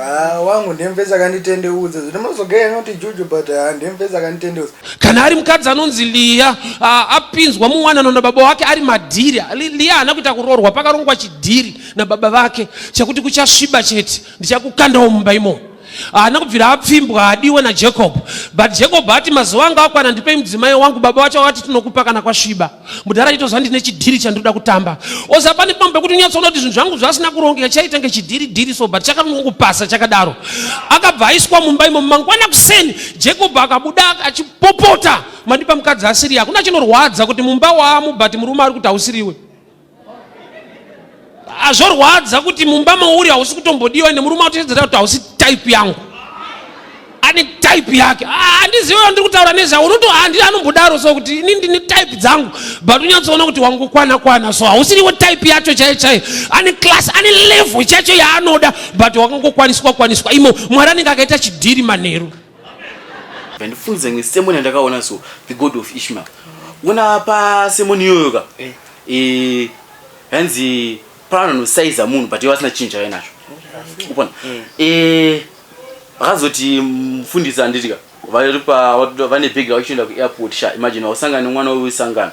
Ah, wangu ndiye mupedzi akanditendeudza zvino mazogaya anoti juju but ah, ndiye mupedzi akanditendeudza kana ari mukadzi anonzi liya ah, apinzwa muwanano nababa wake ari madhiri Li- liya haana kuita kuroorwa pakarongwa chidhiri nababa vake chekuti kuchasviba chete ndichakukandawo mumba imomo haana kubvira apfimbwa haadiwe najacob but jacob ati mazuva anga akwana ndipei mudzimai wangu baba vacho vati tinokupa kana kwasviba mudhara chito zvandi nechidhiri chandinoda kutamba oza pane pamwe pekuti unyatsoona kuti zvinhu zvangu zvasina kurongeka chaita nge chidhiri dhiri so but chakanongopasa chakadaro akabva aiswa mumba imo mangwana kuseni jacob akabuda achipopota mandipa mukadzi asiri hakuna chinorwadza kuti mumba wamu but murume ari kuti hausiriwe azvorwadza kuti mumba mauri hausi kutombodiwa ende murume atotedzera kuti hausi type yangu ane type yake handizive ah, andiri kutaura nezvavo unoto handi anombodaro so kuti ini ndine type dzangu but unyatsoona kuti wangu kwana kwana so hausiriwo type yacho chaiyo chaiyo ane class ane level chacho yaanoda but wakangokwaniswa kwaniswa imo mwari anenge akaita chidhiri manheru ndandifunza ngesemoni yandakaona so the god of ishmael ona pasemoni iyoyoka eh. Eh, hanzi pano anosaiza munhu but iwe asina chinhu chave nacho kupona Eh, vakazoti mufundisi anditika vari pa watu- vane bhegi ravo chienda kuairport sha imagine wakusangana nemwana uyu sangano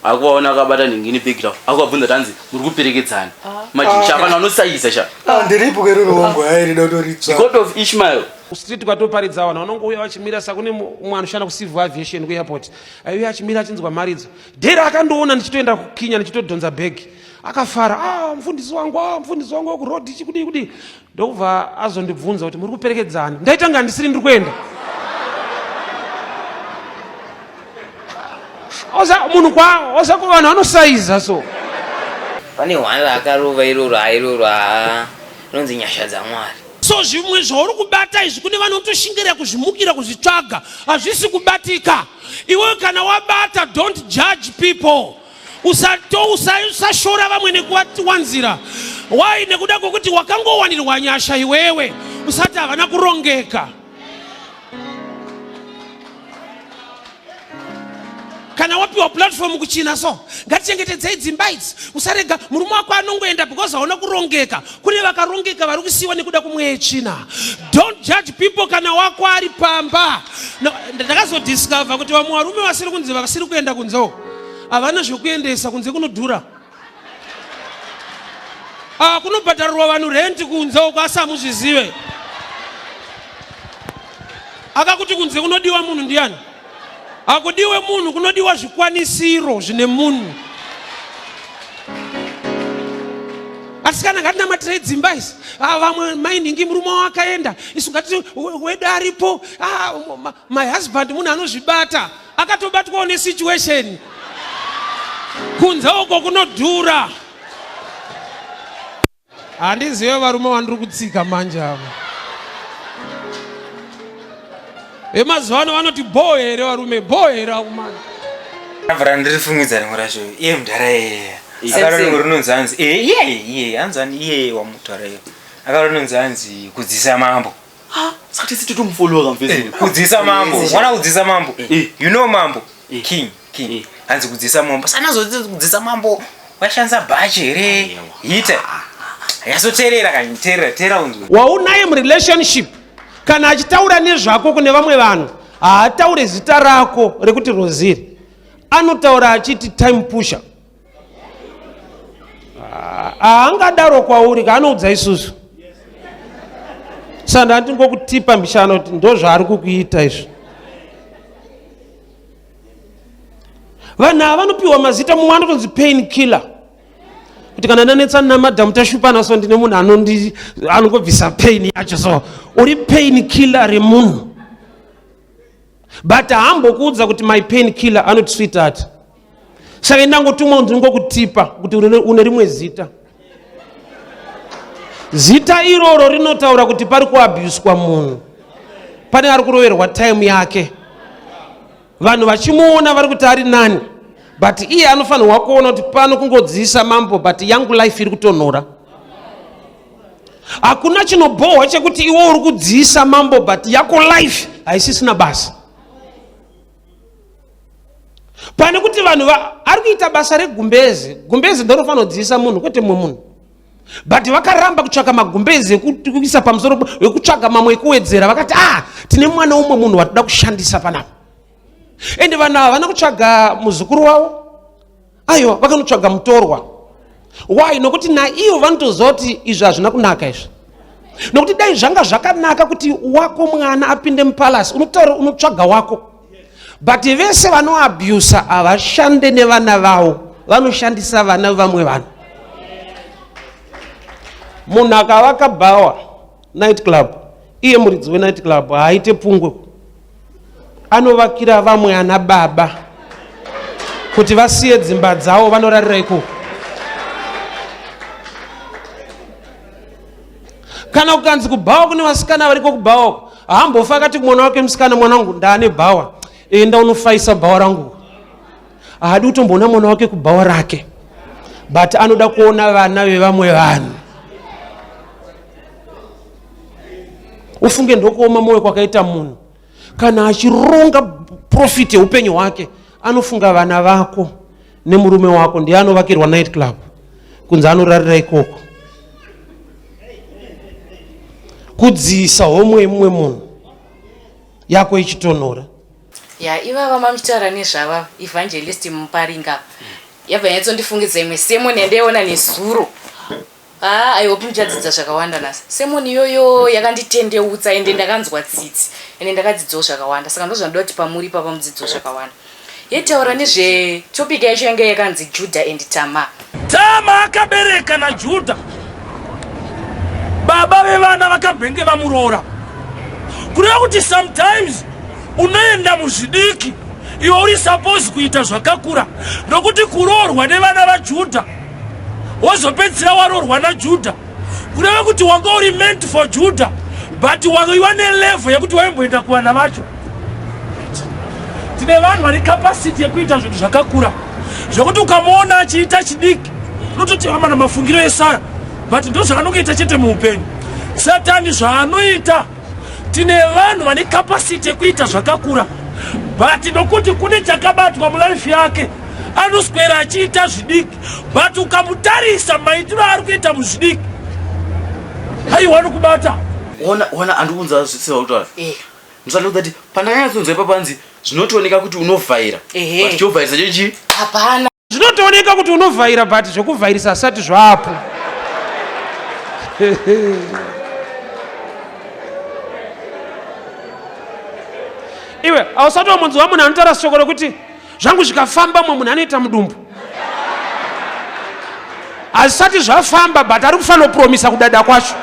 akuvaona akabata ningini bhegi ravo akuvabvunza kuti hanzi muri kuperekedzana imagine sha vanhu vanosaiza sha Ah, ndiripo kero ruongo hayi rida kutoritsva god of ishmael street ukatoparidza vanhu vanongouya vachimira sakune mumwe anoshanda kucivil aviation kuairport aiuya achimira achinzwa mharidzo Dera akandoona ndichitoenda kukinya ndichitodhonza bhegi akafara ah, mfundisi wangu ah, mfundisi wangu wekurodhi chikudii kudii ndokubva azondibvunza kuti muri kuperekedzani ndaitanga ndisiri ndiri kuenda munhu kwavo osako vanhu vanosaiza so pane hwanda akarova iroro airoro haa rinonzi nyasha dzamwari so zvimwe zvauri kubata izvi kune vanotoshingira kuzvimukira kuzvitsvaga hazvisi kubatika Iwe kana wabata don't judge people usato usashora vamwe nekuwanzira why nekuda kwekuti wakangowanirwa nyasha iwewe usati havana kurongeka kana wapiwa platform kuchina so ngatichengetedzei dzimba idzi usarega murume wako anongoenda because haona kurongeka kune vakarongeka vari kusiyiwa nekuda kwemweya yetsvina don't judge people kana wako ari pamba ndakazodiscover kuti vamwe varume vasiri kunzi vasiri kuenda kunzewo havana zvekuendesa kunze kunodhura ah, kunobhadharirwa vanhu renti kunze uko asi hamuzvizive akakuti kunze kunodiwa munhu ndiyani Hakudiwe munhu, kunodiwa zvikwanisiro zvine munhu. Asikana ngatinamatirei dzimba isi. Ah, vamwe mainhingi murume wavo akaenda, isu ngati wedu aripo. Ah, my husband munhu anozvibata, akatobatwawo nesituation. Kunze uko kunodhura. handizive varume vandiri kutsika manje avo vemazuva ano vanoti bhoo here varume bhoo here akumana abvara ndiri fungidza rimwe racho iye mudhara yeye akaronongo rinonzi hanzi iye iye hanzi ani iye wamudhara yeye akarononzi hanzi kudzisa mambo Ah, saka tese totomufollowa kamfesi. Eh, kudzisa mambo. Mwana kudzisa mambo. Eh. You know mambo. Eh. King, king. Eh. Hanzi kudzisa mambo. Sana zoti kudzisa mambo. Washanza bhachi here? Hita. Ah, ah, ah. Yasoterera kanyi, terera, terera unzwe. Waunaye mu relationship. Kana achitaura nezvako kune vamwe vanhu, haataure zita rako rekuti Rosiri. Anotaura achiti time pusher. haangadaro ah, ah, kwauri kaanoudza isusu saka ndati ngokutipa mbishana kuti ndozvaari kukuita izvi vanhu ava vanopiwa mazita mumwe anotonzi pain killer kuti kana ndanetsana namadhamu tashupana so ndine munhu anondi anongobvisa pain yacho so uri pain killer remunhu but hambokuudza kuti my pain killer anoti sweetheart saka ndangotumwa kunzi ngokutipa kuti une rimwe zita zita iroro rinotaura kuti pari kuabhuswa munhu pane ari kuroverwa taimu yake vanhu vachimuona vari kuti ari nani but iye anofanirwa kuona kuti pano kungodziisa mambo but yangu life iri kutonhora hakuna chinobhohwa chekuti iwe uri kudziisa mambo but yako life haisisina basa pane kuti vanhu ari kuita basa regumbeze gumbeze ndorofanira kudziisa munhu kwete mumwe munhu but vakaramba kutsvaka magumbezi ekuisa pamusoro ekutsvaga mamwe ekuwedzera vakati ah tine mwana umwe munhu watoda kushandisa panapa ende vanhu ava vana kutsvaga muzukuru wavo aiwa vakanotsvaga mutorwa why nokuti naivo vanotoziva kuti izvi hazvina kunaka izvi nokuti dai zvanga zvakanaka kuti wako mwana apinde mupalasi unotaura unotsvaga wako but vese vanoabhusa havashande nevana vavo vanoshandisa vana vevamwe vanhu munhu akavaka bhawa night club iye muridzi wenight club haaite pungwe anovakira vamwe ana baba kuti vasiye dzimba dzawo vanorarira ikoko kana kukanzi kubhawa kune vasikana variko kubhawa haambofa akati mwana wake musikana mwana wangu ndaane bhawa enda unofaisa bhawa rangu ahadi kutomboona mwana wake kubhawa rake but anoda kuona vana vevamwe vanhu ufunge ndokuoma mwoyo kwakaita munhu kana achironga profit yeupenyu hwake anofunga vana vako nemurume wako ndiye anovakirwa night club kunze anorarira ikoko kudziisa homwe yemumwe munhu yako ichitonhora ya ivava mamutaura nezvava evangelist muparinga apa yabva yanyatsondifungidza imwe semoni yandaiona nezuro haa i hope ndichadzidza zvakawanda nhasi semoni iyoyo yakanditendeutsa ende ndakanzwa tsitsi ende ndakadzidzawo zvakawanda saka ndozvandoda kuti pamuri papa mudzidzo zvakawanda yetaura nezvetopic yacho yanga yakanzi juda and tamar Tama akabereka naJudha. Baba vevana vakambenge vamuroora. Kureva kuti sometimes unoenda muzvidiki iwe uri suppose kuita zvakakura nokuti kuroorwa nevana vajudha wozopedzisira waroorwa najudha kureva kuti wanga uri meant for judha but waiwa nelevel yekuti waimboenda kuvana vacho tine vanhu vane capacity yekuita zvinhu zvakakura zvekuti ukamuona achiita chidiki unototi amana mafungiro esara but ndo zvaanongoita chete muupenyu satani zvaanoita tine vanhu vane capacity yekuita zvakakura but nokuti kune chakabatwa mulife yake anoswera achiita zvidiki but ukamutarisa maitiro aari kuita muzvidiki haiwani kubata ona ona andikunza zvisirauta eh. Msana kuti pandakanyatsonzwa ipapo hanzi zvinotooneka kuti unovhaira. Ehe. But chovhairisa cho chii? Hapana. Zvinotooneka kuti unovhaira but zvekuvhairisa hasati zvapo. Iwe ausati wamunzwa munhu anotaura shoko rokuti zvangu zvikafamba mwe munhu anoita mudumbu hazvisati zvafamba but ari kufanopromisa kudada kwacho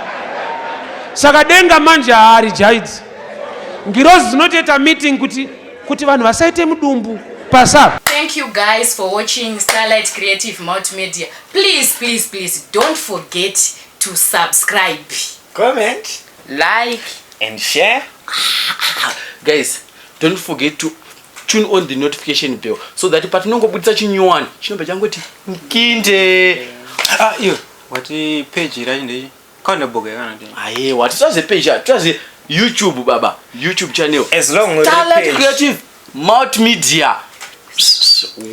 saka denga manje haari jaidzi ngirozi dzinotoita meeting kuti kuti vanhu vasaite mudumbu pasava thank you guys for watching starlight creative multimedia please please please don't forget to subscribe comment like and share guys don't forget to tune on the notification bell so that patinongobudisa chinyowani chinobva changoti mkinde ah, iyo wati page racho ndei kandabhoga yakanati aye wati twaze page ah, twaze youtube baba youtube channel as long as talent creative multimedia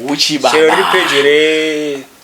uchi baba chero ri page re